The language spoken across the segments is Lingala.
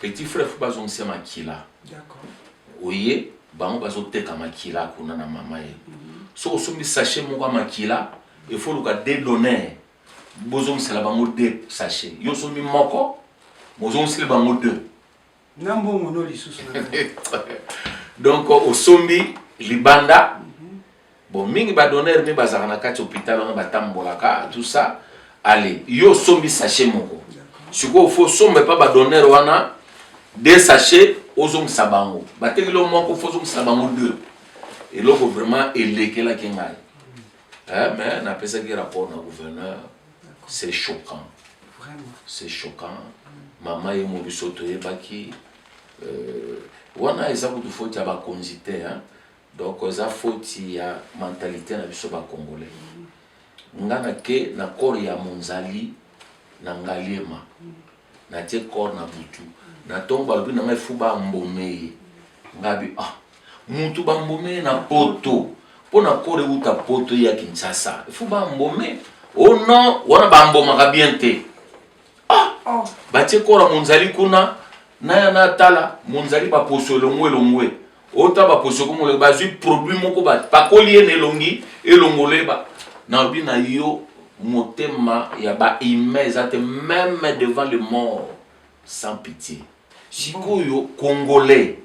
Petit frère faut bazongisa makila. D'accord. Oye bango bazoteka makila kuna na mama ye. Mm -hmm. Soki osombi sachet moko ya makila il faut luka de donner bozongisela bango de sachet. Yo osombi moko bozongisela bango deux. Na mbongo no lisusu. Donc osombi libanda mm -hmm. Bon, mingi ba donneur mi bazaka na kati hôpital wana batambolaka tout ça. Allez, yo sombi sachet moko. Sikoyo faut sombe pa ba donneur wana deux sachets ozongisa bango. Bateki lo moko faut ozongisa bango deux. Eloko vraiment elekelaki ngai. Eh, mais napesaki rapport na gouverneur. C'est choquant. Vraiment. C'est choquant. Mama ye mobiso toyebaki. Euh, wana eza kutu faute ya bakonzi te hein? Donc eza faute ya mentalite na biso ba congolais. Nga na ke na corps ya Monzali na Ngaliema. Na tie corps na butu. Na tongo balobi na ngai fou ba mbome ye. Nga bi ah mutu ba mbome na poto. Mpo na corps ewuta poto ya Kinshasa. Fou ba mbome. Oh non, wana ba mbomaka bien te. Ah, ah. batie kora monzali kuna naya natala monzali baposo elongwe elongwe ota baposo komolo bazwi produit moko bapakoli ye na elongi elongoleba nalobi na yo motema ya bahumain eza te meme devant le mort sans pitié Sikoyo congolais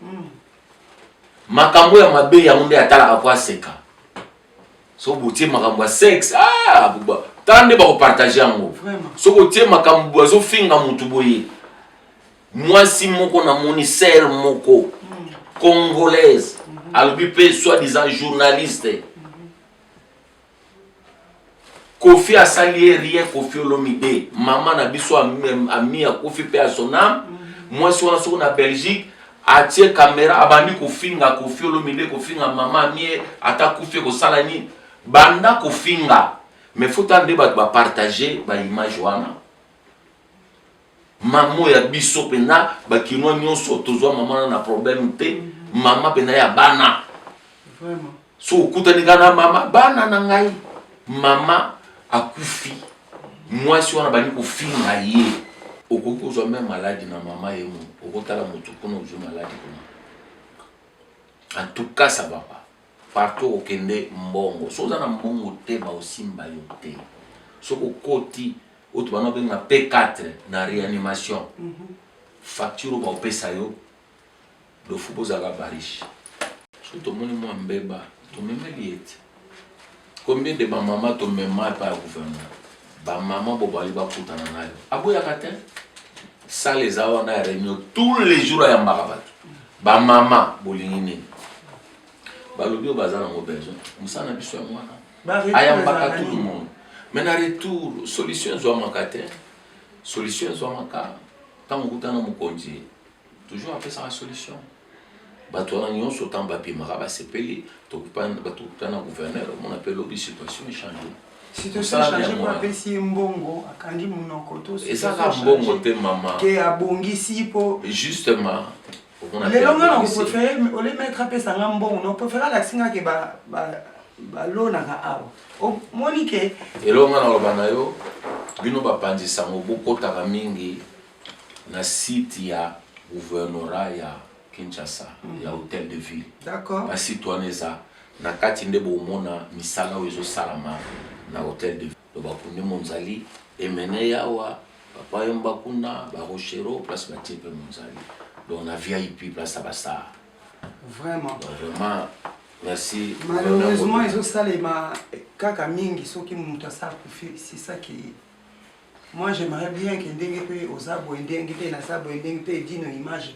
makambo ya mabe yango nde atalaka po aseka soki botie makambo ya sexe ah, tala nde bakopartage yango soki otie makambo azofinga motu boye mwasi moko namoni ser moko hmm. congolaise hmm. alobi mpe soi disant journaliste hmm. Koffi asali ye rien Koffi Olomide maman na biso ami ya Koffi pe à son âme mwasi wana soko na Belgique atie camera abandi kofinga Koffi Olomide kofinga maman amie ata kufi ekosala nini banda kofinga mais faut ande bato ba partager ba image wana Maman ya biso pena ba kinois nyonso tozwa maman na problème te. Maman pena ya bana. Vraiment. So okutani kana mama bana na ngai. Maman akufi. Mwasi wana bani kofinga ye. Okoki kozwa meme maladi na mama ye mo. Okotala motu kuna ozwi maladi kuna. En tout cas ça va pas. Partout okende mbongo. Soki oza na mbongo te baosimba yo te. Soki okoti oyo tobanda kobenga P4 na reanimation facture oyo baopesa yo dofu mpo ozalaka bariche. Soki tomoni mwa mbeba tomemeli ye te. Combien de bamama tomema epai ya gouvernement bamama bo bali bakutana nayo aboyaka te sale eza wana ya reunion tous les jours ayambaka bato bamama bolingi nini balobi oyo baza nango besoin mosala na biso ya mwana ayambaka tout le monde mais na retour solution ezwamaka te solution ezwamaka ntango okuta na mokonzi toujours apesaka solution bato wana nyonso ntango bapimaka basepeli tokuta na gouverneur omona mpe lobi situation echange ezaka mbongo te mama justement lelo nga na prefere ole maître apesa nga mbongo na prefere alakisi nga ke balonaka awa omoni ke eloo nga naloba na yo bino bapanzi sango bokotaka mingi na site ya gouvernorat ya kinshasa ya mhm. hôtel de ville basite wana eza na kati nde bomona misala oyo ezosalama na hôtel de ville Loba kundi monzali emene yawa papa yomba kuna ba rochero place batie pe monzali donc na vip place ya bastar vraiment donc vraiment merci malheureusement ezosalema kaka mingi soki moto asala kufi c'est ça qui moi j'aimerais bien que ndenge mpe oza boye ndenge mpe naza boye ndenge mpe edino image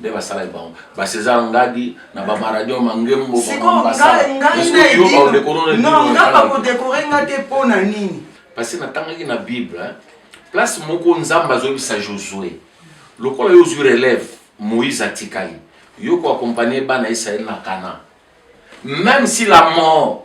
nde basalaki bango ba Cesar Ngadi na ba Maradio Mangembo nga bakodekore nga te mpo na nini parce que natangaki na bible place moko nzambe azoyebisa josue lokola yo ozwi relève moïse atikali yo koakompagne bana israele na kana même si la mort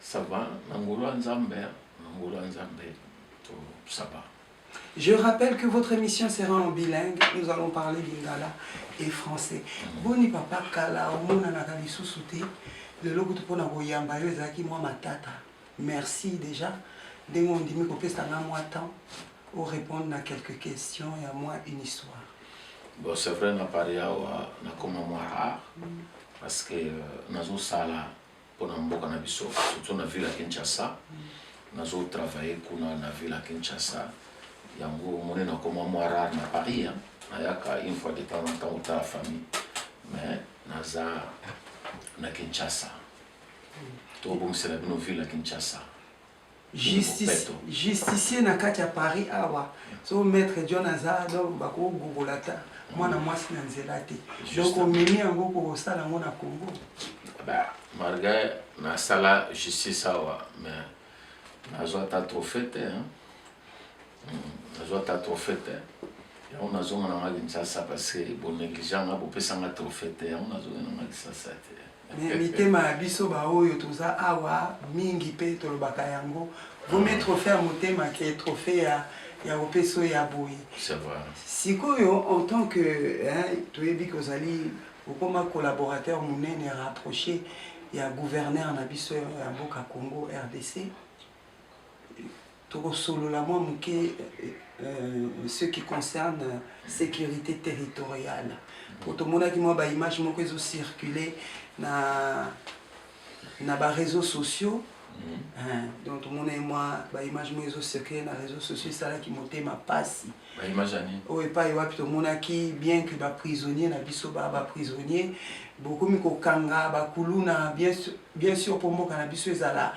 Ça va, na ngolu ya Nzambe, na ngolu ya Nzambe, to ça va. Je rappelle que votre émission sera en bilingue. Nous allons parler lingala et français. Boni papa kala omonanaka lisusu te lelo kutu mpo na koyamba yo ezalaki mwa matata. Merci déjà ndenge ondimi kopesa nga mwa temps orépondre na quelques questions ya mwa une histoire. Bon, c'est vrai na paris awa nakoma mwa rare parce que euh, nazosala pona mboka na biso surtout na ville ya kinshasa nazo travaille kuna na ville ya kinshasa yango omoni nakoma mwa rare na paris hein. nayaka une fois de temps en temps otala famille mais naza na kinshasa tobongisela bino ville ya kinshasa Justice, justicier na kati ya Paris awa so maître John aza donc bako gogola ta mwana mwasi na nzela te donc omemi yango kosala yango na Congo ba malgré nasala justice awa mais nazwa ata trophée te hmm, nazwa ata trophée te yango nazonga na nga Kinshasa parce que bonégligea nga bopesa nga trophée te yango nazonga na nga Kinshasa te Mais mitema ya biso ba oyo toza awa mingi pe tolobaka yango vaut mieux trophee ya motema que trophee ya ya kopesa oyo ya boye C'est vrai. sikoyo en tant que hein, toyebi ke ozali okoma collaborateur monene rapproché ya gouverneur na biso ya mboka congo rdc Tokosolola mwa moke euh, ce qui concerne euh, sécurité territoriale mpo tomonaki mwa baimage moko ezo circule na na baréseaux sociaux mm-hmm. hein, donc tomonaki mwa baimage moko ezo circule na réseaux sociaux esalaki motema mpasi oyo epai wapi tomonaki bien que baprisonnier na biso ba baprisonnier bokomi kokanga bakuluna bien sûr mpo mboka na biso ezala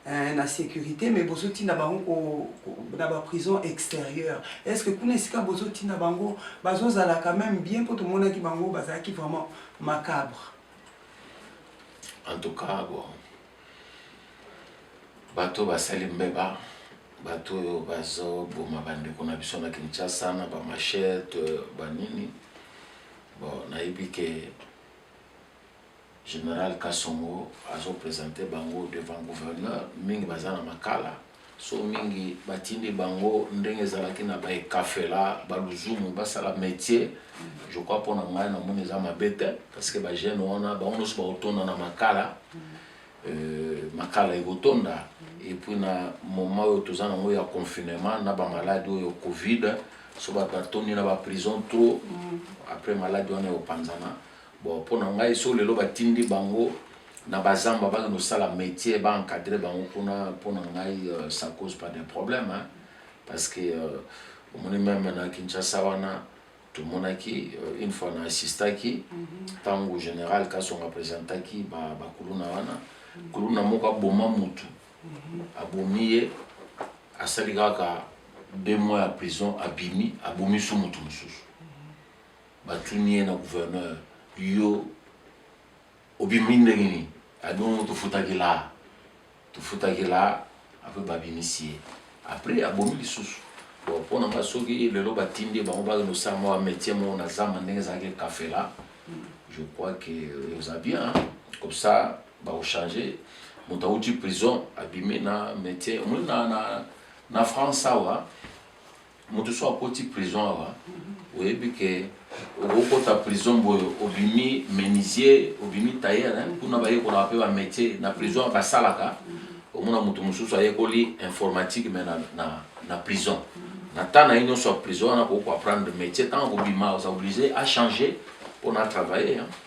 eh, na sécurité mais bozotinda bango na baprison extérieure est ce que kuna esika bozotinda bango bazozala quand même bien mpo tomonaki bango bazalaki vraiment macabre en tout cas bon bato basali mbeba bato oyo bazoboma bandeko na biso na kinshasa na bamachete banini bon nayebi ke General Kasongo azo presenter bango devant gouverneur, mingi baza na makala so mingi batindi bango ndenge ezalaki na ba ekafela ba luzumu basala metier je crois mpo na ngai namoni eza mabe te parce que bajeune wana bango nyonso bakotonda na makala euh, makala ekotonda et puis na moment oyo toza nango ya confinement na bamaladi oyo covid so bato batondi na baprison trop mm. après maladi wana ekopanzana Bon, mpo na ngai so lelo batindi bango na bazamba bake nosala métier ba encadre bango kuna mpo na ngai euh, ça cause pas de problème hein? parce que euh, omoni meme na kinshasa wana tomonaki euh, une fois na assistaki ntango mhm. général kasonga présentaki bakuluna ba wana mhm. kuluna moko aboma mutu mhm. abomi ye asali kaka deux mois ya prison abimi abomi su mutu mosusu Batuni ye na gouverneur, yo obimi ndenge nini? Abino tofutaki la, tofutaki la, apres babimisi ye, apres abomi lisusu bon mpo na nga soki lelo batindi ye bango bakende kosala mwa métier moko na zamba ndenge ezalaki kafela je crois que eza bien comme ça bakochange moto awuti prison abimi na métier omoni na, na, na france awa Moto so akoti prison awa oyebi ke okokota prison boye obimi menuisier obimi tailleur hein? kuna bayekolaka mpe ba métier na prison ya basalaka omona moto mosusu ayekoli informatique mais na, na, na prison na temps na ye nyonso ya prison wana akoki koapprendre métier ntango akobima oza oblige achanger mpo na travailler hein?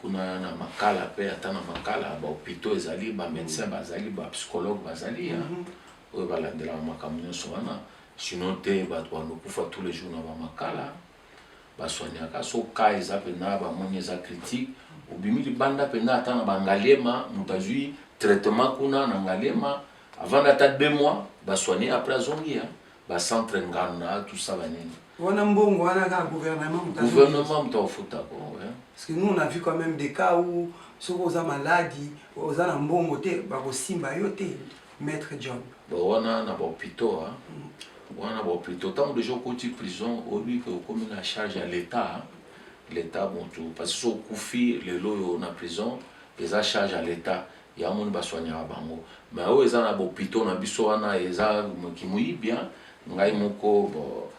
kuna na makala mpe ata na makala bahopitaux ezali bamedecin bazali bapsychologue bazali ya mhm. oyo balandelaka makambo nyonso wana sino te bato banokufa tous les jours na bamakala baswaniaka so ka eza mpena bamoni eza critique obimi libanda mpena ata na bangaliema moto azwi traitement kuna na ngaliema avanda ata deux mois baswani apres azongi ya bacentre ngana tout ça banini wana mbongo wana kaka gouvernement moto gouvernement moto afuta bongo parce que nous on a vu quand même des cas où soki oza maladi oza na mbongo te bakosimba yo te maître john bon wana na bahopitaux mm. wana na bahopitaux ntango deja okoti prison oyebi ke okomi na charge ya l'état l'état motu parce que soki okufi lelo oyo na prison eza charge ya l'état Ya moni ba soignaka bango mais oyo eza na b'hopitaux na biso wana eza kimoyibi hein ngai moko bo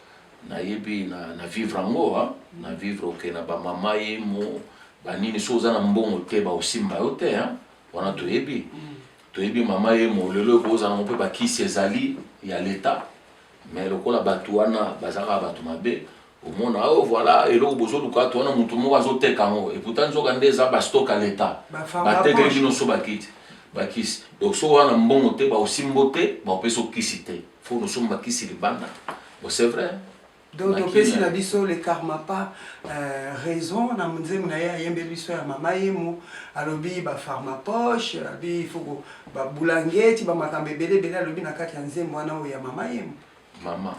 na yebi na na vivre yango hein na vivre oke na ba mama yemo ba nini soki oza na mbongo te ba osimba yo te hein wana toyebi toyebi mama yemo lelo eko ozala ngo pe ba kisi ezali ya l'etat mais lokola batu wana bazalaka batu mabe omona oh voilà eloko bozoluka to wana motu moko azoteka yango eputa nzoka nde eza bastock ya leta batekeli bino so bakiti bakisi donc so wana mbongo te baosimbo te baopesa okisi te fo nosomba kisi libanda bon c'est vrai donc topesi na biso le karma pas euh, raison na nzembo na ye ayembeli biso ya mama yemo alobi bafarma poche alobi ifoko babulangeti bamakambo ebele ebele alobi na kati ya nzembo wana oyo ya mama yemo mama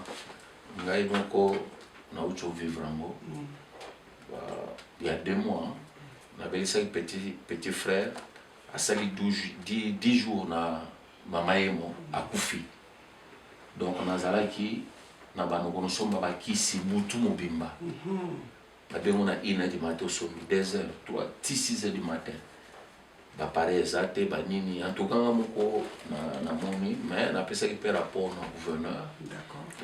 ngai moko nauti ovivre yango mm. ya deux mois nabelisaki petit, petit frère asali 10 jours na mama yemo akufi donc nazalaki na banoko nosomba bakisi butu mobimba mm -hmm. abengo na ina di matin osombi 2 heures 3 ti 6 heures du matin bapareil eza te banini antuka nga moko namoni na mais napesaki mpe rapport na gouverneur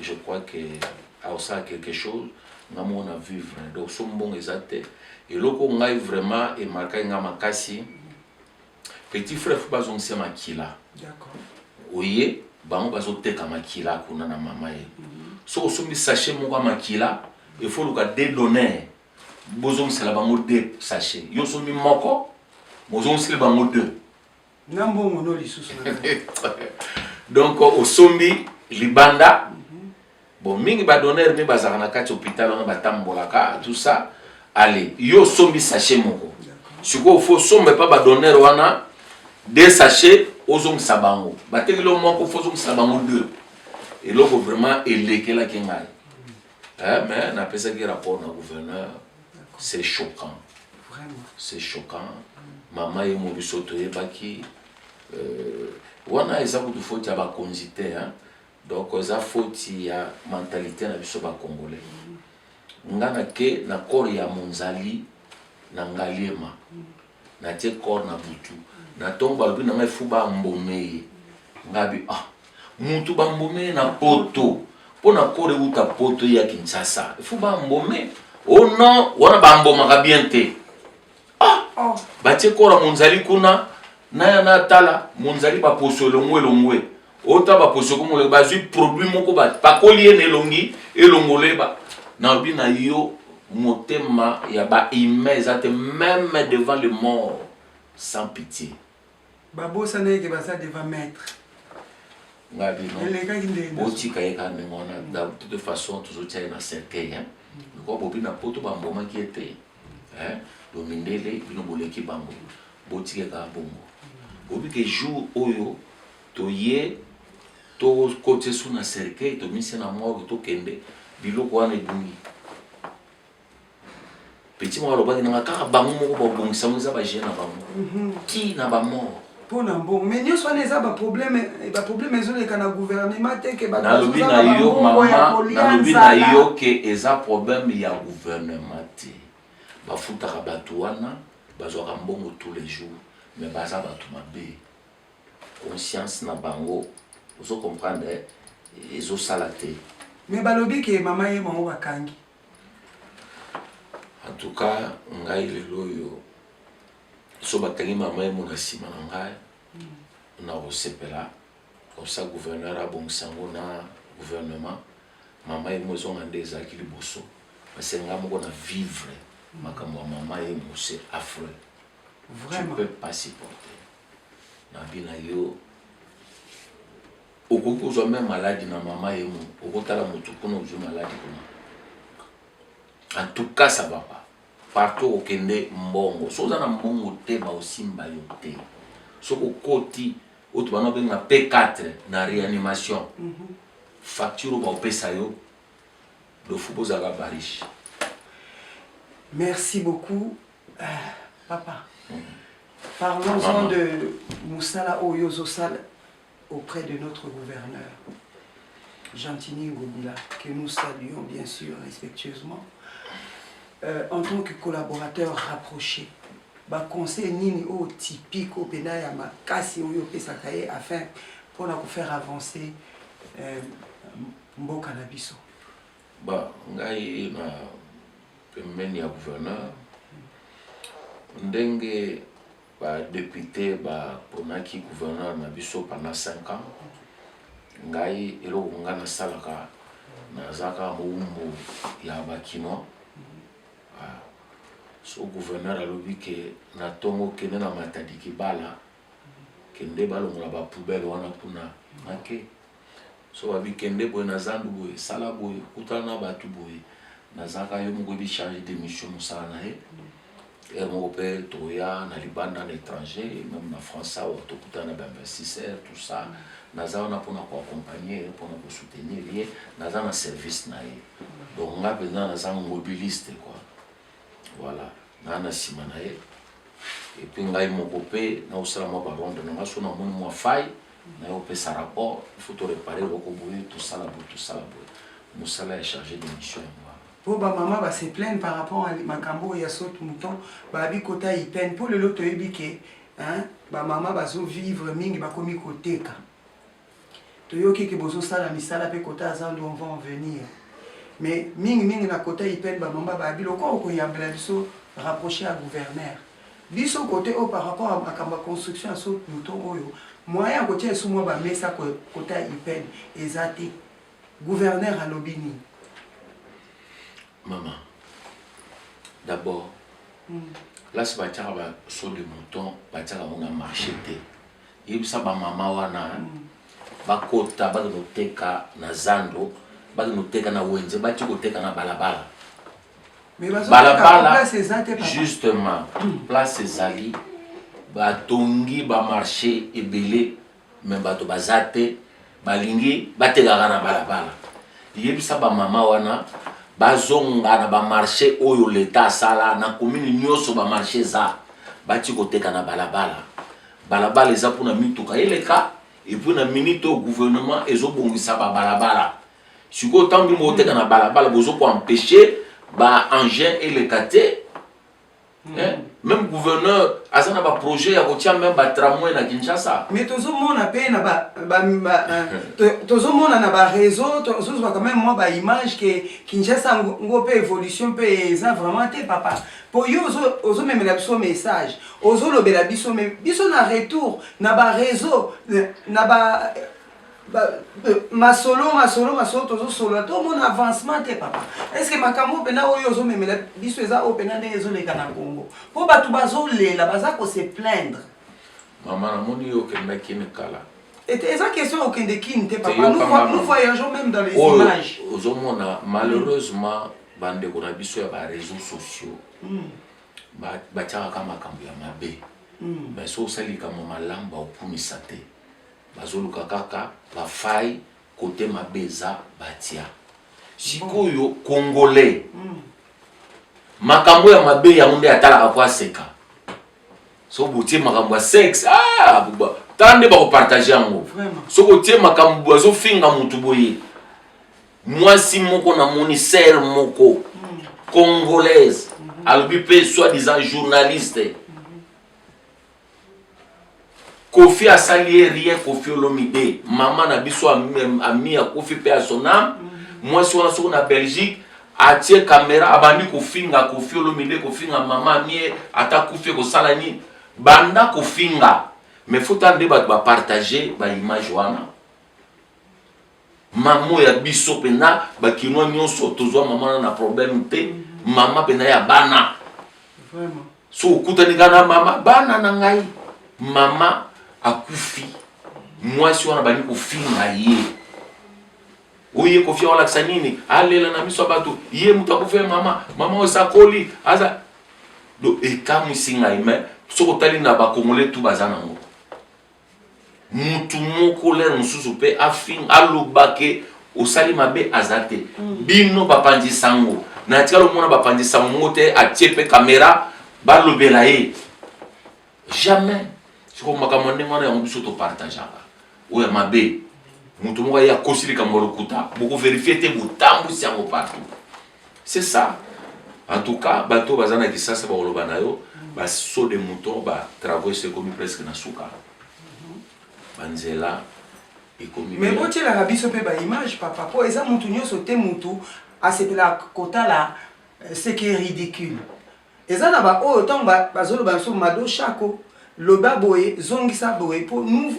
je crois que aosala quelque chose nga moko na vivre donc so mbongo eza te eloko ngai vraiment emarkaki nga makasi Petit frère faut bazongisa makila. D'accord. Oye bango bazoteka makila kuna na mama ye. Mm -hmm. Soki osombi sachet moko ya makila il faut luka de donner bozongisela bango de sachet. Yo osombi moko bozongisela bango deux. Na mbongo no lisusu. Donc osombi libanda mm -hmm. Bon, mingi ba donneur mi bazaka na kati hôpital wana batambolaka tout ça. Allez, yo sombi sachet moko. Sikoyo faut sombe pa ba donneur wana deux sachets ozongisa bango. Bateki lo moko faut ozongisa bango deux. Eloko vraiment elekelaki ngai. Eh, mais napesaki rapport na gouverneur. C'est choquant. Vraiment. C'est choquant. Mama ye mobiso toyebaki euh, wana eza kutu faute ya bakonzi te hein? Donc eza faute ya mentalite na biso ba congolais. Nga na ke na corps ya Munzali na Ngaliema. Na tie corps na butu. Na tongo balobi na ngai fou ba mbome ye. Nga bi ah mutu ba mbome na poto. Mpo na corps ewuta poto ya Kinshasa. Fou ba mbome. Oh non, wana ba mbomaka bien te. Ah, ah. batie kora monzali kuna naya natala monzali baposo elongwe elongwe ota baposo komolo bazwi produit moko bapakoli ye na elongi elongoleba nalobi na yo motema ya bahumain eza te meme devant le mort sans pitié Ba bosana ye ke baza devant maître. Nga bino. Elekaki ndenge. Botika ye kaka ndenge wana. Mm. De toute façon tozotia ye na cercueil hein. Mm. Lokola bobi na poto bambomaki ye te. Hein? Donc mindele bino boleki bango. Botika ye kaka bongo. Mm. Bobi ke jour oyo toye tokotisa esu na cercueil tomisi na morgue tokende biloko wana ebungi. petit moko alobaki na nga kaka bango moko babongisa yango eza bagene na bango ti na bamort mpo na mbongo mais nyonso wana eza baproblème baproblème ezoleka na gouvernement te ke nalobi na yo mama nalobi na yo ke eza problème ya gouvernement te bafutaka bato wana bazwaka mbongo tous les jours mais baza bato mabe conscience na bango ozo comprendre ezosala te mais balobi ke mama ye bango bakangi En tout cas, ngai lelo oyo so bakangi mama ye mona nsima na ngai na kosepela kosa gouverneur abongisa yango na gouvernement mama ye mozonga nde ezalaki liboso parce ngai moko na vivre makambo ya mama ye mose affreux tu peux pas supporter nabi na yo Okoki kozwa meme maladi na mama ye mo okotala motu kuna ozwi maladi kuna en tout cas ça va pas partout okende mbongo soki oza na mbongo te baosimba yo te soki okoti oyo tobanda obenga p4 na réanimation mm -hmm. facture oyo baopesa yo dofu bozalaka bariche merci beaucoup euh, papa mm -hmm. parlons-en de mosala oyo ozosala auprès de notre gouverneur Gentini Ngobila, que nous saluons bien sûr respectueusement, euh, en tant que collaborateur rapproché, ba conseil nini au typique au pena ya makasi oyo opesaka ye afin mpona faire avancer euh, mboka na biso ba ngai na pembeni ya gouverneur ndenge Ba deputes ba ponaki gouverneur na biso pendant 5 ans. Ngai eloko ngai na salaka na za kaka mowumbu ya ba kinois. Ah. So gouverneur alobi ke na tongo kende na matadi kibala kende balongola ba poubelles wana kuna na ke. soki babi kende boye na zandu boye sala boye kutana na bato boye nazalaka yo moko ebi charge de mission mosala na ye heure moko mpe toya na libanda na étranger meme na france awa tokutana na bainvestisseur tout ça naza wana mpona koaccompagne ye mpona kosoutenir ye naza na service na ye donc nga mpenza naza mobiliste quoi voilà naa na nsima na ye epuis ngai moko mpe naosala mwa baronde na nga so namoni mwa faille naye opesa rapport il faut to reparer eloko boye tosala boye tosala boye mosala ya charge de mission yango wana po bamama ba se plaine par rapport a makambo oyo ya saute mouton babi kota ipene mpo lelo toyebi ke bamama bazovivre mingi bakomi koteka toyoki ke bozosala misala mpe kota aza ndu on va en venir mais mingimingi na kota ipene bamama babi lokola okoyambela biso rapproche ya gouverneur Biso cote oyo par rapport ya makambo ya construction ya saut pluton oyo moyen ya kotia lisusu mwa ba mesa cote ya Iped eza te. Gouverneur alobi nini? Maman, d'abord place batiaka ba saut de mouton batiaka yango na marché te yebisa bamama wana bakota bakende koteka na zando bakende koteka na wenze bati koteka na balabala balabala justement hmm. place ezali batongi bamarche ebele me bato baza te balingi batekaka na balabala yebisa bamama wana bazonga na bamarche oyo leta asala na komini nyonso bamarche eza bati koteka na balabala balabala eza mpona mituka eleka epuis na minite oyo gouvernement ezobongisa babalabala sikoyo ntango bino boteka na balabala bozo ko empêche ba engin eleka te même gouverneur aza na baprojet ya kotia meme batramway na kinshasa mais tozomona mpe na euh, tozomona na bareseau tozozwa quand même mwa baimage ke kinshasa ngo mpe évolution mpe eza vraiment te papa mpo yo ozomemela biso message ozolobela biso me biso na retour na bareseau na ba masolo masolo masolo tozosolola tomona avancement te papa estce makambo oyo mpena oyo ozomemela biso eza oyo mpena ndenge ezoleka na congo mpo bato bazolela baza kose plaindre mama namoni yo okendaki ne kala eza question okende kini te papa nous voyageons même dans les images ozomona malheureusement bandeko na biso ya bareseau sociaux hmm. batiakaka makambo ya mabe mais hmm. so osali likambo malamu baokumisa te Bazoluka kaka ba faille kote mabe eza batia. Sikoyo congolais mm. makambo ya mabe yango nde atalaka po aseka so botie makambo ya sexe ah, tala nde bakopartage yango soki otie makambo bazofinga motu boye mwasi moko namoni sere moko hmm. congolaise hmm. alobi mpe soi disant journaliste hmm. Koffi asali ye rien Koffi Olomide mama na biso ami ya Koffi pe à son âme mhm. mwasi wana soko na Belgique atie kamera abandi kofinga Koffi Olomide kofinga mama amie ata Koffi ekosala nini banda kofinga mais faut ande bato bapartage baimage wana Maman ya biso pena ba kinois nyonso tozwa maman na na problème te. Mhm. Maman pena ya bana. Vraiment. So okutani kaka na mama bana na ngai. Mama akufi. Mwasi wana bandi kofinga ye. Oye kofi olakisa nini? Alela na miso ya bato. Ye moto akufi ya mama. Mama oyo sakoli. Aza. Do ekamwisi ngai mais soki otali na bakongole tu baza nango. mutu moko lere mosusu mpe afing aloba ke osali mabe aza te mm. bino bapanzi sango na tikala omona bapanzi sango moko te atie mpe kamera balobela ye jamais sikoyo makambo ya ndenge wana yango biso topartageaka oyo ya mabe moto moko aye akosi likambo ya lokuta bokoverifie te botambwisi yango partout C'est ça. En tout cas, bato baza na kisasa bakoloba na yo ba saut de mouton ba travaux esekomi presque na suka. Ba nzela ekomi. Mais botielaka biso mpe ba image papa mpo eza mutu nyonso te mutu asepela kotala euh, ce qui est ridicule. Eza na ba oyo tango ba bazo loba na biso mado shako loba boye zongisa boye po nous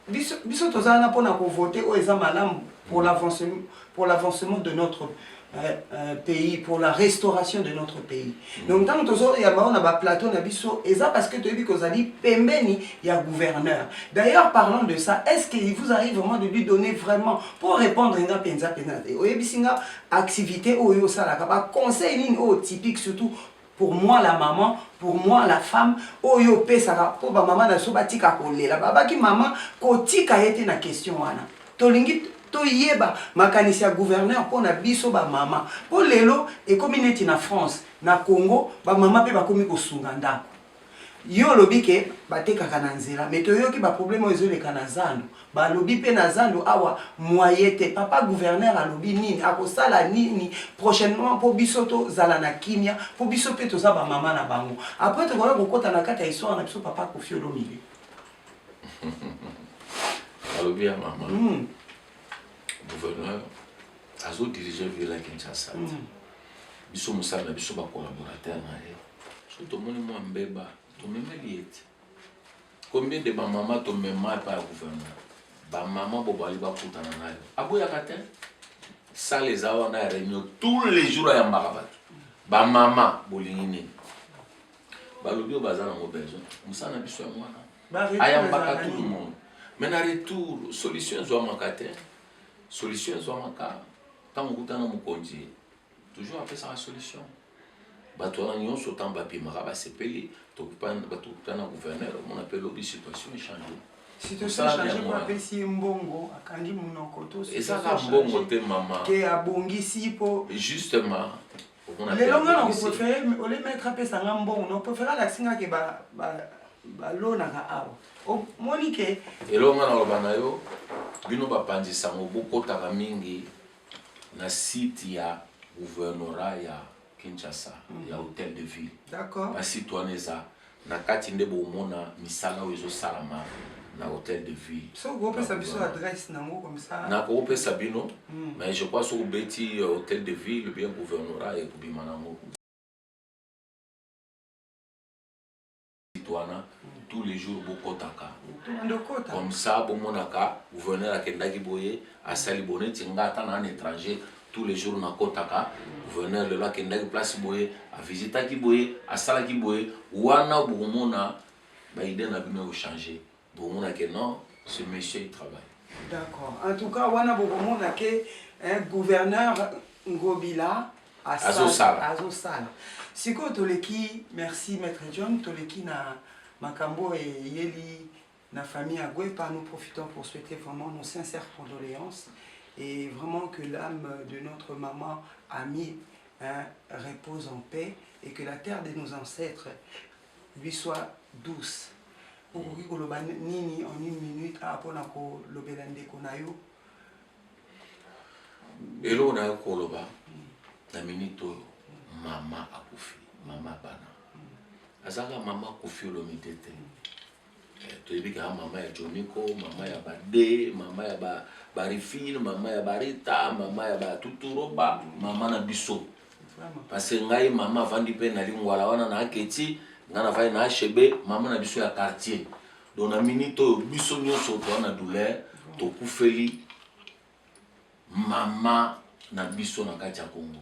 biso biso toza wana pona ko voter oyo eza malamu pour l'avancement pour l'avancement de notre Euh, euh, pays pour la restauration de notre pays mm. donc ntango tozoyamba oyo na baplateau na biso eza parce que toyebi kozali pembeni ya gouverneur d'ailleurs parlant de ça est ce qu'il vous arrive vraiment de lui donner vraiment pour répondre nga mpenza mpenza te oyebisi nga Activite oyo osalaka ba conseil nini oyo typique surtout pour moi la maman pour moi la femme oyo opesaka po ba maman na biso batika kolela babaki maman kotika ye te na question wana tolingi toyeba makanisi ya gouverneur mpo na biso ba maman mpo lelo ekomi neti na France na Congo ba maman mpe bakomi kosunga ndako Yo olobi ke batekaka na nzela mais toyoki ba problème oyo ezoleka na zando balobi pe na zando awa moye te papa gouverneur alobi nini akosala nini prochainement po biso tozala na kimia po biso pe toza ba mama na bango après tokoya kokota na kati ya histoire na biso papa kofi olomide alobi ya mama mm. gouverneur azo dirige ville ya kinshasa te biso mosala na biso bacollaborateur na ye soki tomoni mwa mbeba tomemeli ye te combien de bamama tomema epai ya gouvernement bamama bobali bakutana nayo aboyaka te sale eza wana ya réunion tous les jours ayambaka bato bamama bolingi nini balobi oyo baza nango besoin mosala na biso yango wana ayambaka tout le monde mais na retour solution ezwamaka te Solution ezwamaka tango okuta na mokonzi toujours apesaka solution bato wana nyonso ntango babimaka basepeli tokuta na gouverneur omona mpe lobi situation echange apesi ye mbongo akangi monoko toezaka mbongo te mama te abongisi mpo justement lelo nga na prefere ole maître apesa nga mbongo na prefere alakisi nga ke balonaka awa omoni ke eloo nga naloba na yo bino bapanzi sango bokotaka mingi na site ya gouvernorat ya kinshasa mm. ya hôtel de ville basite wana eza Na kati nde bomona misala oyo ezo salama na hotel de ville. Soki oko pesa biso adresse na ngo comme ça. Na ko pesa bino mais je crois soki obeti hotel de ville ou bien gouvernorat eko bima na ngo. Site wana tous les jours bo kotaka comme ça bo monaka gouverneur akendaki boye. Asali boye neti nga ata naa na etranger tous les jours nakotaka gouverneur lelo akendaki place boye a visitaki boye asalaki boye wana bokomona ba idee na bino eko change bokomona ke non ce monsieur il travaille. D'accord en tout cas wana bokomona ke eh, gouverneur Ngobila azosala azosala sikoyo toleki merci maître John toleki na makambo eyeli Na famille ya Guepa nous profitons pour souhaiter vraiment nos sincères condoléances et vraiment que l'âme de notre maman amie hein, repose en paix et que la terre de nos ancêtres lui soit douce. okoki koloba nini en une minute a ah, mpona kolobela ndeko na yo eloko na yo koloba na minute oyo mama akufi mama bana azalaka mama akufi olomide te toyebi kaka mama ya joniko mama ya bade mama ya ba barifine mama ya barita mama ya batuturoba mama na biso parce ngai mama avandi mpe na lingwala wana na aketi ngai navandi na hb mama na biso ya quartier donc na minute oyo biso nyonso toa na douleur tokufeli mama na biso na kati ya congo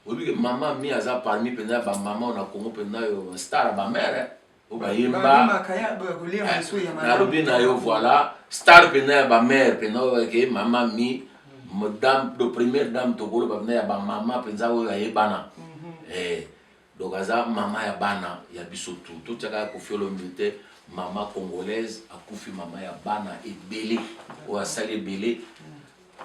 oyebi ke mama mi aza parmi mpenza bamama oyo na congo mpenza oyo star bamere bayemba nalobi na yo voilà star mpena ya bamare mpena oyo eke mama mi dame do première dame tokoloba mpena ya bamama mpenza oyo ayebana mhm. eh, donc aza mama ya bana ya biso tu totyaka ya kofiolombi te mama congolaise akufi mama ya bana ebele oyo asali ebele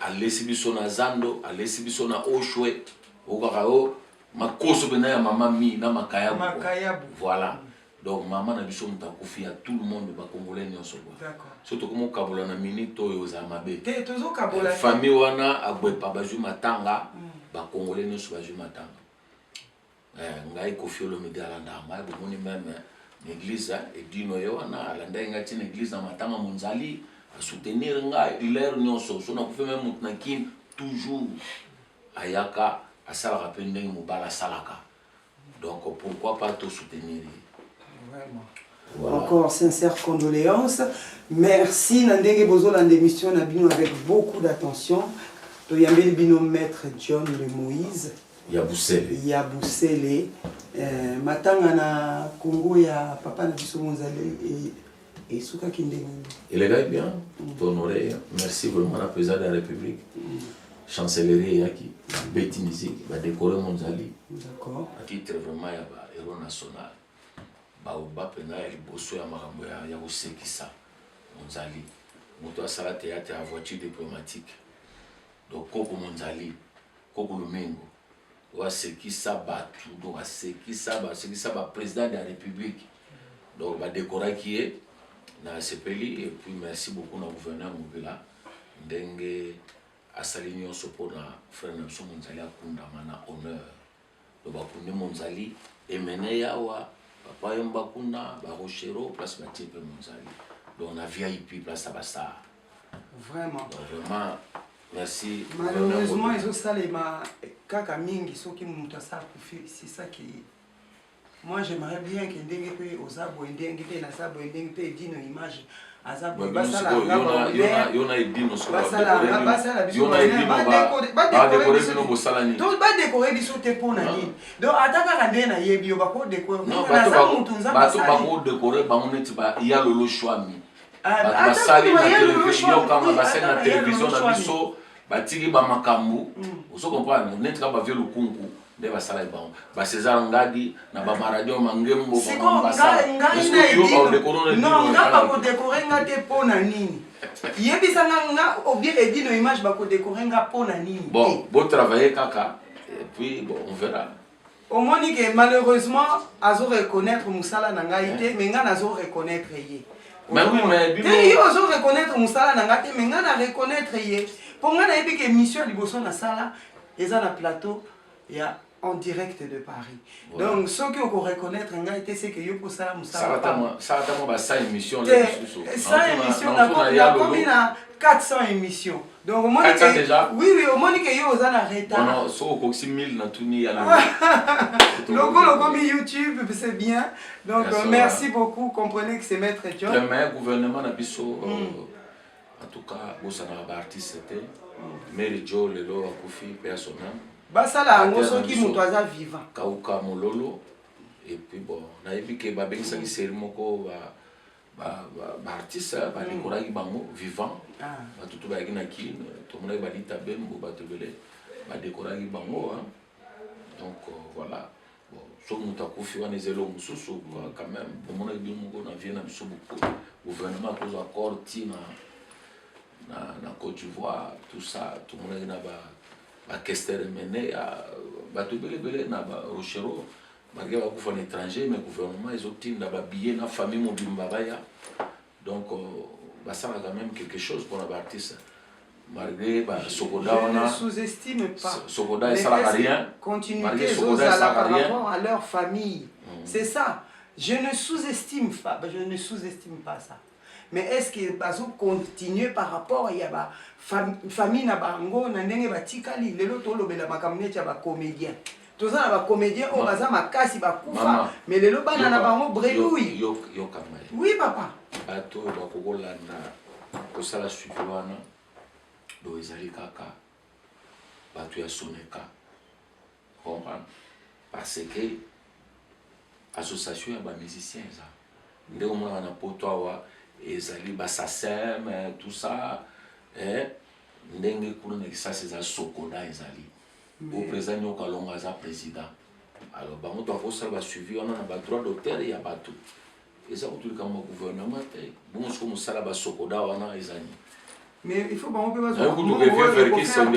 alesi biso na zando alesi biso na oshwe okaka yo Makoso pena ya mama mi na makayabu. Makayabu. Voilà. Donc mama na biso moto akufi ya tout le monde ba congolais nyonso kwa. D'accord. So tokomi okabola na minute oyo ozala mabe. Te tozo kabola. Eh, famille wana agwepa bazwi matanga. Mm. Ba congolais nyonso bazwi matanga. Eh, ngai Koffi Olomide alanda ngai bomoni meme eh, na église eh, edino ye wana alandaki ngai ti na église na matanga monzali asoutenir ngai l'heure nyonso so nakufi meme moto na kin toujours Ayaka asalaka pe ndenge mobali asalaka donc pourquoi pas to soutenir ye. Vraiment. Voilà. Encore sincère condoléance. Merci na ndenge bozo landa emission na bino avec beaucoup d'attention. To yambeli bino maître John de Moïse. Ya Busele. Ya Busele. Euh, matanga na Congo ya papa na biso Monzali esukaki ndenge nini elekaki bien tohonore ye merci vraiment na président de la république chancellerie eyaki beti musique badekore monzali d'accord à titre vraiment ya ba héros national baoba mpenza ya liboso ya makambo ya- ya kosekisa monzali moto asala théâtre ya voiture diplomatique donc koko monzali koko lumingo oyo asekisa batu donc asekisa ba asekisa ba president de la republique donc ba decoraki ye na sepeli et puis merci beaucoup na gouverneur mobila ndenge asali nyonso mpo na frère na biso monzali akundama na honneur donc bakundi monzali emene yawa papa yomba kuna ba rochero place batie mpe monzali donc na vip place ya basar Vraiment. Donc vraiment merci. Malheureusement ezo salema kaka mingi soki mutu asa kufi c'est ça qui moi j'aimerais bien que ndenge pe oza boye ndenge pe naza boye ndenge pe edino image aza boye basala yona edino basala biso badekore biso bosala nini to badekore biso te mpo na nini donc ata kaka nde nayebi yo bakodekore naza mutu nzambe asali bakodekore bango neti ya lolo shwami bato basali na televizio yokanga basali na televizio na biso batiki bamakambo mm. ozo comprendre neti kaka bavie lukunku nde basalaki bango basezar ngadi na bamaradio mangembo nga bakodekore nga te mpo na nini yebisa nga nga obien edino image bakodekore nga mpo na nini bon botravaille kaka epuis bon on verra Omoni que malheureusement azo reconnaitre musala na ngai te mais ngai nazo reconnaitre ye. Bah oui, mais bino... te ye ozo reconnaitre musala na ngai te mais ngai na reconnaitre ye mpo ngai nayebi ke émission ya liboso nasala eza na plateau ya en direct de Paris. Ouais. Donc, ceux qui ont reconnaître un gars, c'est que yo pour ça, ça va tellement, ça va tellement, ça émission là, ça émission, on a combien 400 émissions. Donc au moins que déjà. Oui oui, au moins que yo oza na retard. Non non, so okokisi 1000 na tuni ya logo. Logo logo mi YouTube, c'est bien. Donc yes, euh, merci beaucoup, comprenez que c'est maître John. Le meilleur gouvernement na biso euh, mm. en tout cas bosana ba artiste te. Mm. Mary Joe lelo akufi personnel. Basala yango soki moto aza vivant. Kauka mololo et puis bon, nayebi ke babengisaki série moko ba ba ba ba artistes hein, ba decoraki bango vivant Ah. bato to bayaki na kin tomonaki balita bembo bato ebele badekoraki bango hein. donc euh, voilà bon soki moto akufi wana eza eloko mosusu quoi, quand même bomonaki bino moko na vie na biso boko gouvernement akozwa accord ti na na, na Côte d'Ivoire tout ça tomonaki na ba bakester emene ya bato ebele ebele na ba rochero malgre bakufa na étranger mais gouvernement ezotinda babillet na famille mobimba baya donc euh, basalaka même quelque chose mpona baartiste malgré basokoda wana sokoda esalaka rien malgré sokoda esalaka rien à leur famille mm. c'est ça je ne sous-estime pas je ne sous-estime pas ça Mais est-ce que bazo continuer par rapport ya ba famille na bango na ndenge batikali lelo tolobela makambo neti ya ba comedien toza na ba comedien oyo baza makasi bakufa mais lelo bana na bango bredouille oui papa bato oyo bakoki kolanda kosala suivi wana boyo ezali kaka bato ya soneka O comprendre? Par ce que association ya ba musiciens eza. Nde omonaka na poto awa ezali ba Sacem tout ça eh ndenge kuna na kisasa eza Socoda ezali. Ou president Nyoka Longo aza president. Alors bango to ko sala ba suivi wana na ba droit d'auteur ya batu. eza kutu likambo ya gouvernement te bongo soko mosala basokoda wana eza nini mais il faut bango mpe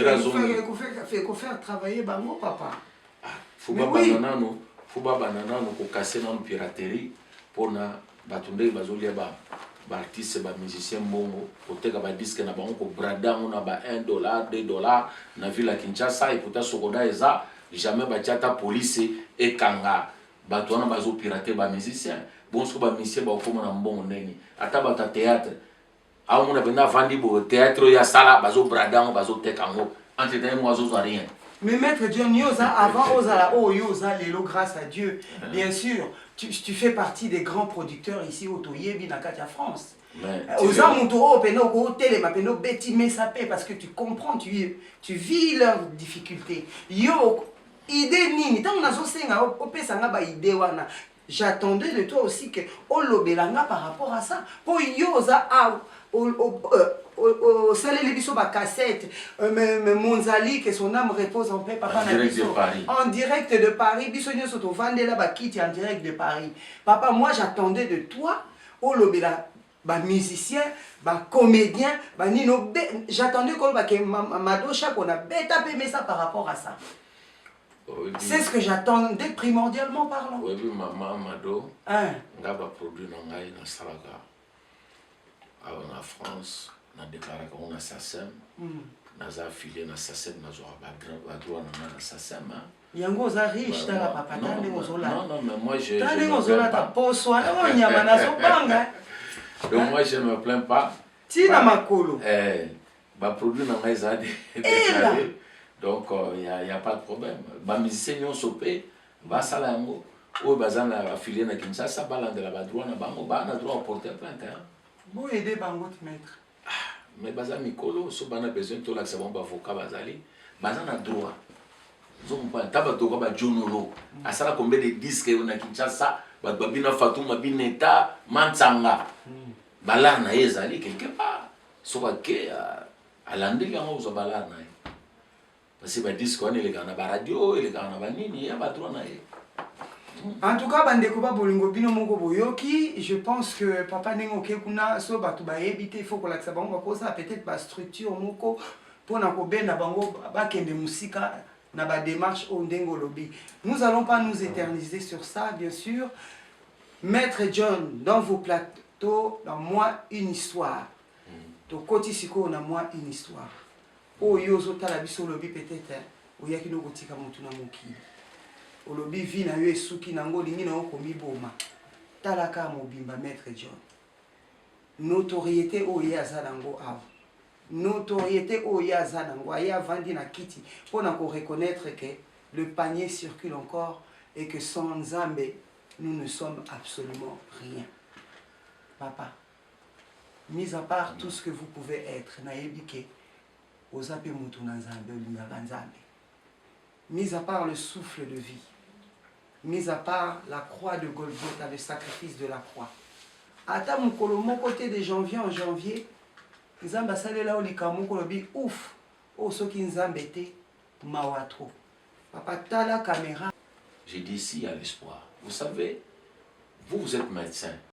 bazokofaire travailler bango papa ah, fo babanda nano fo babanda nano kokase nano piraterie mpona bato ndenge bazolia ba baartiste bamusicien mbongo koteka badiske na bango kobrada yango na ba 1 dollar 2 dollar na ville ya kinshasa epota sokoda eza jamais batya ata polise ekanga Batu wana bazo pirater ba musiciens bon sikoyo ba musiciens bakokoma na mbongo ndenge nini ata batu ya theatre aomona mpenza avandi boye theatre oyo asala bazo brada yango bazo teka yango entre temps ye moko azozwa rien Mais maître John, yo oza avant ozala oh yo oza lelo grâce à Dieu. Ah. Bien sûr, tu, tu fais partie des grands producteurs ici au Toyebi na kati ya France. Euh, oza moto oyo mpena okotelema mpena obeti mesa mpe parce que tu comprends tu, tu vis leurs difficultés yo Idee nini? Tango nazo senga yo opesa nga ba idees wana, j'attendais de toi aussi que olobela nga par rapport à ça. Po yo oza awa osaleli biso ba cassettes, Monzali que son ame repose en paix papa na biso, en direct de Paris, biso nionso tovandela ba kiti en direct de Paris. Papa moi j'attendais de toi olobela ba musiciens ba comediens ba nino j'attendais koloba ke mado shako na beta pe mesa par rapport à ça c'est ce que j'attendais primordialement parlant oyebi mama mado nga baproduit na ngai nasalaka awa na france nadeklaraka ngo na sasem naza affilié na sasem nazwaka badroit na ngai na sasem hein. yango oza riche tala papa tala ndenge ozolata ndenge ozolata poso wana oyo oh, nyama nazobanga donc moi je me plains pas tina makolo eh, baproduit na ngai eza eh, donc il euh, n'y a pas de problème bamusicien nyonso mpe basala yango oyo baza na afilie na kinshasa balandela badroit na bango baa na droit ya porter plainte bo aide bango te maître Ah mais baza mikolo so bana besoin tolakisa bango bavoka bazali baza na droit ozokompana ta bato oka bajonolo mm. asala kombe de diske yo na kinshasa bato babina fatuma bineta mansanga mm. balar na ye ezali quelque part soki ake alandeli yango ozwa balar na ye Parce que ba disque wana elekaka na ba radio, elekaka na ba nini, ya ba droit na ye. En tout cas bandeko ba bolingo bino moko boyoki, je pense que papa ndenge oke kuna so bato bayebi te il faut kolakisa bango bakozala peut-être ba structure moko pona kobenda bango bakende mosika na ba démarche oyo ndenge olobi. Nous allons pas nous éterniser sur ça bien sûr. Maître John dans vos plateaux na moi une histoire. Tokoti sikoyo na moi une histoire. Oyo yo ozo tala biso olobi peut etre oyaki no kotika mutu na mokili olobi vie na yo esuki nango olingi na yo komiboma tala ka mobimba maitre John notoriete oyo ye aza nango awa notoriete oyo ye aza nango aye avandi na kiti mpo na ko reconnaître que le panier circule encore et que sans nzambe nous ne sommes absolument rien papa Mis à part tout ce que vous pouvez etre, nayebi que oza pe mutu na Nzambe, olingaka Nzambe. Mis à part le souffle de vie, mis à part la croix de Golgotha, le sacrifice de la croix, ata mokolo moko te de janvier en janvier Nzambe asalela yo likambo moko olobi ouf, oyo soki Nzambe te, mawa trop. Papa tala camera. Je dis s'il y a l'espoir. Vous savez, vous, vous etes medecin.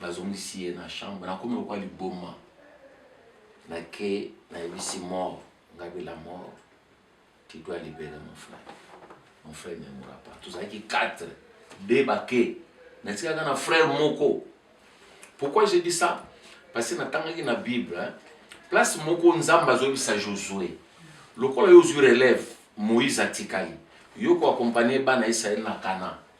Bazongisi ye na chambre, nakomi lokola liboma. Nake nayebisi mort, ngabe la mort, tu dois liberer mon frère. Mon frère ne mourra pas. Tozalaki 4, 2 bake. Natikaka na frère moko. Pourquoi j'ai dit ça? Parce que natangaki na Bible, hein? place moko Nzambe azobisa Josué. Lokola yo ozwi relève, Moïse atikali. Yo ko accompagner bana Israël na Canaan.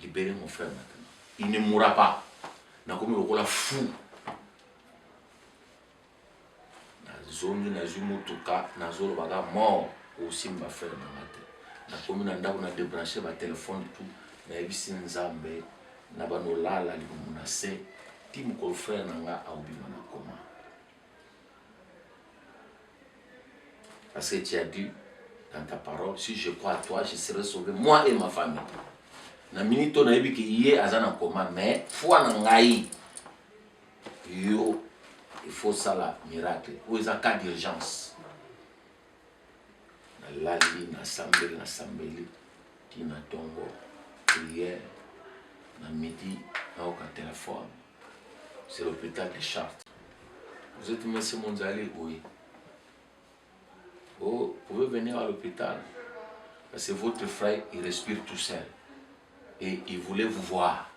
Libere mon frère maintenant. Il ne mourra pas. Nakomi lokola fou. nazongi nazwi motuka nazoloba ka mort osimba frere na nga te nakomi na ndako na debranche batelefone tu nayebisi nzambe na banolala libumu na se ti mokolo frere na nga aobima na koma Parce que tu as dit dans ta parole, si je crois à toi, je serai sauvé, moi et ma famille. Na minute oyo nayebi ke ye aza na koma mais foi na ngai yo il faut sala miracle oyo eza cas d'urgence nalali nasambeli nasambeli tina ntongo priere na midi nayoka telefone C'est l'hôpital de Chartres. Vous êtes monsieur Monzali Oui. Oh, vous pouvez venir à l'hôpital. Parce que votre frère, il respire tout seul. Et il voulait vous voir.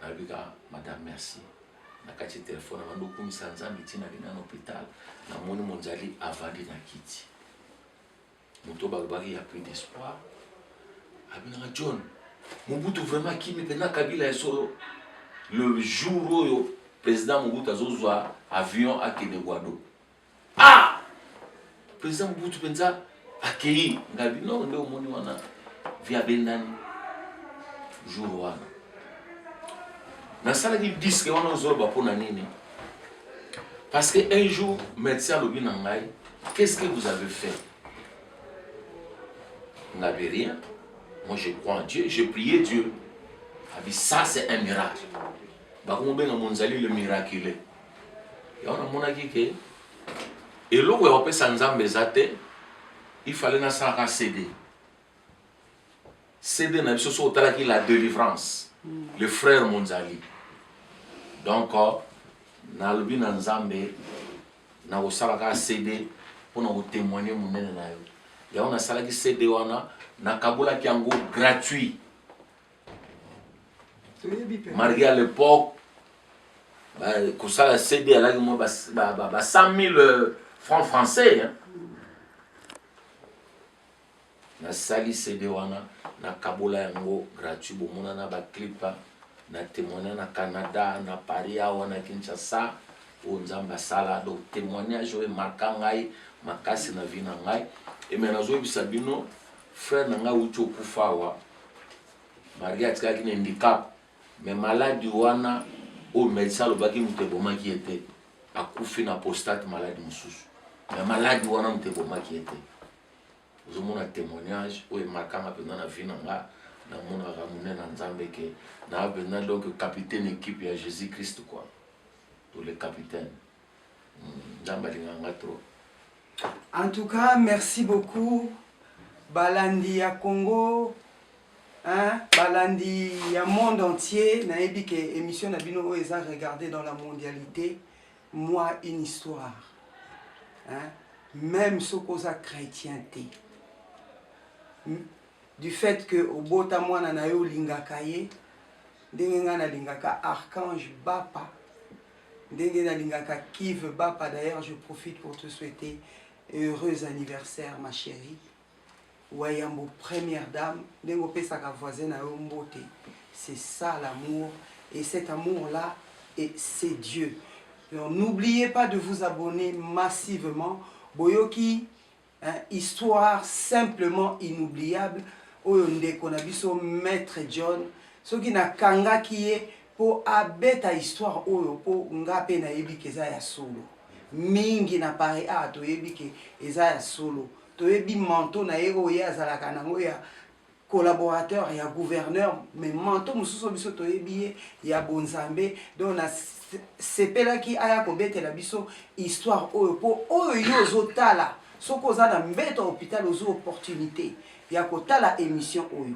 Nabika, madame, merci. nakati telefone abandi okumisa nzambe ntina lina na hôpital namoni monzali avandi na kiti Moto balobaki ya plus d'espoir. Abinaka John, Mobutu vraiment akimi pena Kabila ya solo. Le jour oyo président Mobutu azozwa avion akende Guado. Ah! Président Mobutu penza akei ngabi no nde omoni wana via bendani jour wana nasalaki diske wana ozoloba mpo na nini Parce que un jour, médecin alobi na ngai, qu'est-ce que vous avez fait On n'avait rien. Moi, je crois en Dieu, j'ai prié Dieu. A dit, ça, c'est un miracle. Bakomo benga monzali le miraculé. Ya wana monaki ke eloko ya kopesa Nzambe eza te, il fallait nasalaka CD. CD na biso soki otalaki la delivrance le frère Monzali donc nalobi na Nzambe na kosala kaka CD mpo na kotemoigne monene na yo yango nasalaki CD wana nakabolaki yango gratuit malgré à l'époque kosala CD alaki mwa ba 100 000 euh, francs français hein? Na sali CD wana na kabola yango gratuit bo mona na ba clip na temoigna na Canada na Paris awa na Kinshasa oyo nzambe asala donc temoignage oyo emarka ngai makasi na vie na ngai et mais nazo yebisa bino frère na ngai awuti okufa awa Maria atikaki na handicap mais maladi wana oyo medecin alobaki moto ebomaki ye te akufi na postate maladi mosusu mais maladi wana moto ebomaki ye te ozomona temoignage oyo emarkanga mpenza na vie na nga namonaka monene na nzambe ke naa mpenza donc capitaine equipe ya jésus christ kua to le capitaine hmm, nzambe alingaka nga trop en tout cas merci beaucoup balandi ya congo hein, balandi ya monde entier nayebi ke émission na bino oyo eza regarde dans la mondialité Moi une histoire hein? meme soki oza chrétien te du fait que obota mwana na yo olingaka ye ndenge ngai nalingaka archange bapa ndenge nalingaka kive bapa d'ailleurs je profite pour te souhaiter heureux anniversaire ma chérie Wayambo première dame ndenge opesaka voisin na yo mbote c'est ça l'amour et cet amour là et c'est Dieu donc n'oubliez pas de vous abonner massivement boyoki hein, histoire simplement inoubliable oyo ndeko na biso maître John soki nakangaki ye mpo abeta histoire oyo mpo nga mpe nayebi ke eza ya solo mingi na paris awa toyebi ke eza ya solo Toyebi manteau na ye oyo ye azalaka na yango ya collaborateur ya gouverneur mais manteau mosusu oyo biso toyebi ye ya bonzambe donc na sepelaki aya kobetela biso histoire oyo mpo oyo yo ozotala soki oza na mbeto ya hôpital ozwi opportunité ya kotala émission oyo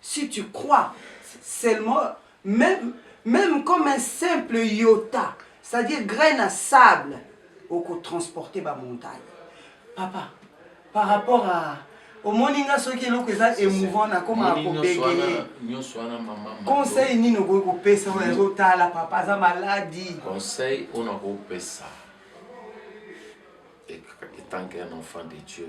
Si tu crois seulement meme meme comme un simple iota c'est à dire grain na sable oko transporter ba montagne papa par rapport à omoni nga soki eloko eza emouvant na koma ko begeye conseil nini okoki kopesa oyo azotala papa aza maladi conseil oyo nakopesa etant qu'un enfant de dieu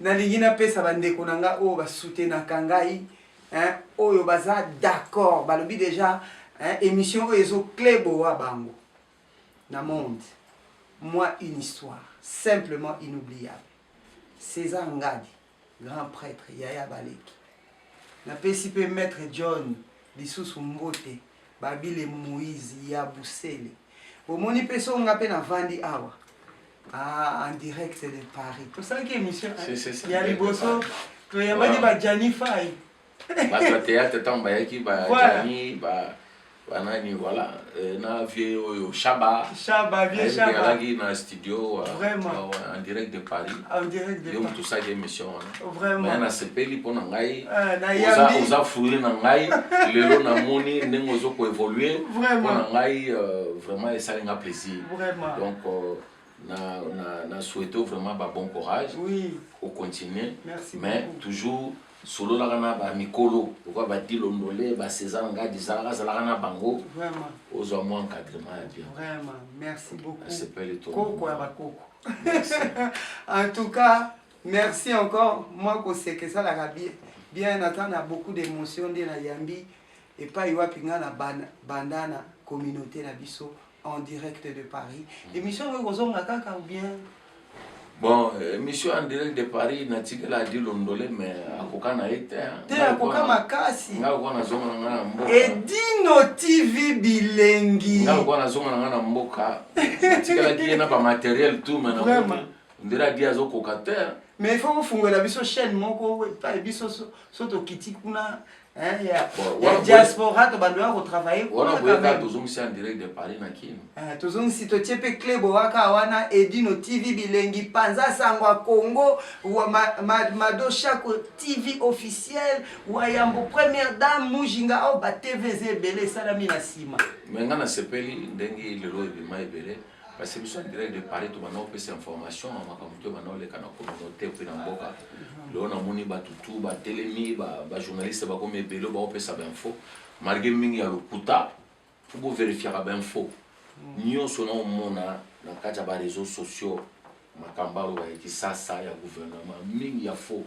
Nalingi napesa ba ndeko na nga oyo ba soutenaka ngai hein, oyo baza d'accord balobi dejà hein, emission oyo ezo kleboa bango na monde. Moi une histoire simplement inoubliable. Cesar Ngadi, grand prêtre, yaya baleki. Napesi pe maître John lisusu mbote. Babile Moïse ya Busele. Bomoni pe so nga pe na vandi awa. Ah, en direct de Paris. Tosalaki émission ya liboso toyambaki ba Gianni Fai. Bato ya théâtre ntango bayaki ba Gianni ba banani voilà euh, na vie oyo Shaba. Shaba vie Shaba. Alaki na studio vraiment en direct de Paris en direct de Paris tosaki émission wana hein. vraiment mais nasepeli mpo na ngai ah, oza fourri na ngai lelo namoni ndenge ozo ko évoluer mpo na ngai euh, vraiment esali nga plaisir vraiment donc euh, na, na, na souhaite vraiment ba bon courage oui. au continuer Merci mais beaucoup. toujours Sololaka na ba mikolo lokola ba Dilo Ndole, ba Cesar Ngadi, zalaka zalaka na bango. Vraiment. Ozwa mwa encadrement ya bien. Vraiment. Merci beaucoup. Nasepeli trop. Koko ya ba koko. en tout cas, merci encore. Mwa koseka esalaka bien. Bien ata na beaucoup d'émotion nde na yambi epai wapi nga na bandana communauté na biso. en direct de Paris émission oyo kozonga kaka ou bien bon émission en direct de Paris natikela adi londole mais akoka na ye te te akoka makasi nga lokola nazonga na nga na mboka edino tv bilengi nga lokola nazonga na nga na mboka natikelaki ye na bamateriel tout mais na ndela adi azokoka te mais il faut kofungola biso chaîne moko epai biso so tokiti kuna Hein, ya, ya diaspora tobandaka kotravaille wana boyaka tozongisi en direct de paris na kino eh, tozongisi totie mpe cle boyaka wana edino tv bilengi panza sango ya congo wa ma, ma, mado shako tv officiel wa yambo première dame mujinga ao oh, batv eza ebele esalami na nsima me ngai nasepeli ndenge lelo ebima ebele Parce que biso en direct de Paris tobanda kopesa information ya makambo to ebanda koleka na communauté mpe na mboka lelo namoni bato tu batelemi bajournaliste bakomi ebele baopesa bainfo malgré mingi ya lokuta mpo boverifiaka bainfo nyonso naomona na kati ya bareseau sociaux Makamba oyo ya kisasa ya gouvernement mingi ya faux.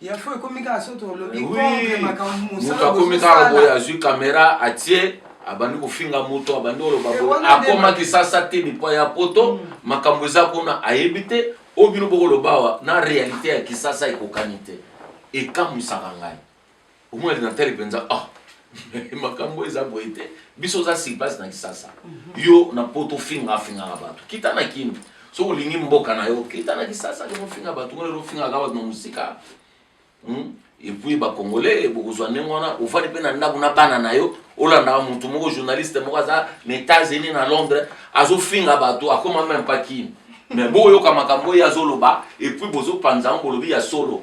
Ya faux ekomi kaka soki tolobi contre makambo mosala. Moto akomi kaka boye azwi kamera atie abandi kofinga moto abandi koloba boye akoma kisasa te lipa ya poto mm. makambo eza kuna ayebi te oyo bino bokoloba awa na realite ya kisasa ekokani te ekamwisaka ngai. omona linatali mpenza ah makambo eza boye te biso oza silpasi na kisasa mhm. yo na poto ofinga afingaka bato kita na kini soki olingi mboka na yo kita na kisasa lelo ofinga bato ngo lelo ofingaka bato na mosika hmm? epuis bacongolais bokozwa ndenge wana ofandi mpe na ndako na bana na yo olandaka motu moko journaliste moko aza na états-unis na londres azofinga bato akoma meme pa kini me boyoka makambo oyo azoloba epuis bozopanza yango bolobi ya solo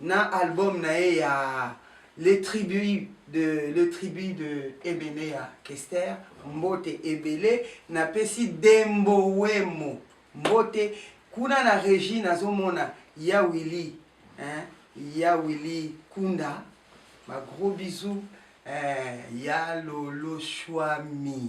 Na album na ye ya Le tribut de Le tribut de Ebele ya Kester, Mbote ebele napesi Dembo Wemo mbote, kuna na regie nazo mona Ya Willy hein, Ya Willy Kunda ba gros bisous eh, Ya Lolo Shuami.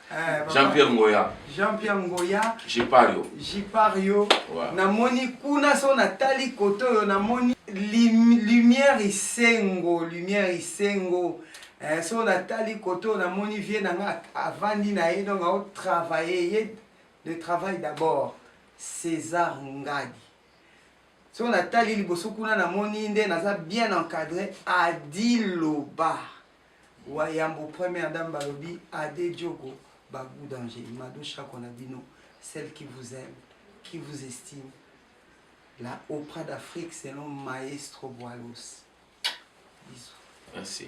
Eh, Jean-Pierre Ngoya. Jean-Pierre Ngoya. Jipario. Jipario. Ouais. Namoni kuna so natali koto oyo namoni lim, lumière isengo, lumière isengo. Eh, so natali koto namoni vie na nga avandi na ye donc ao travailler ye le travail d'abord. César Ngadi. So natali liboso kuna namoni nde naza bien encadré Adiloba. Wa yambo première dame balobi Ade Diogo ba gout danger Mado Shako na bino celle qui vous aime qui vous estime la Oprah d'Afrique selon maestro Boilos bisous. Merci.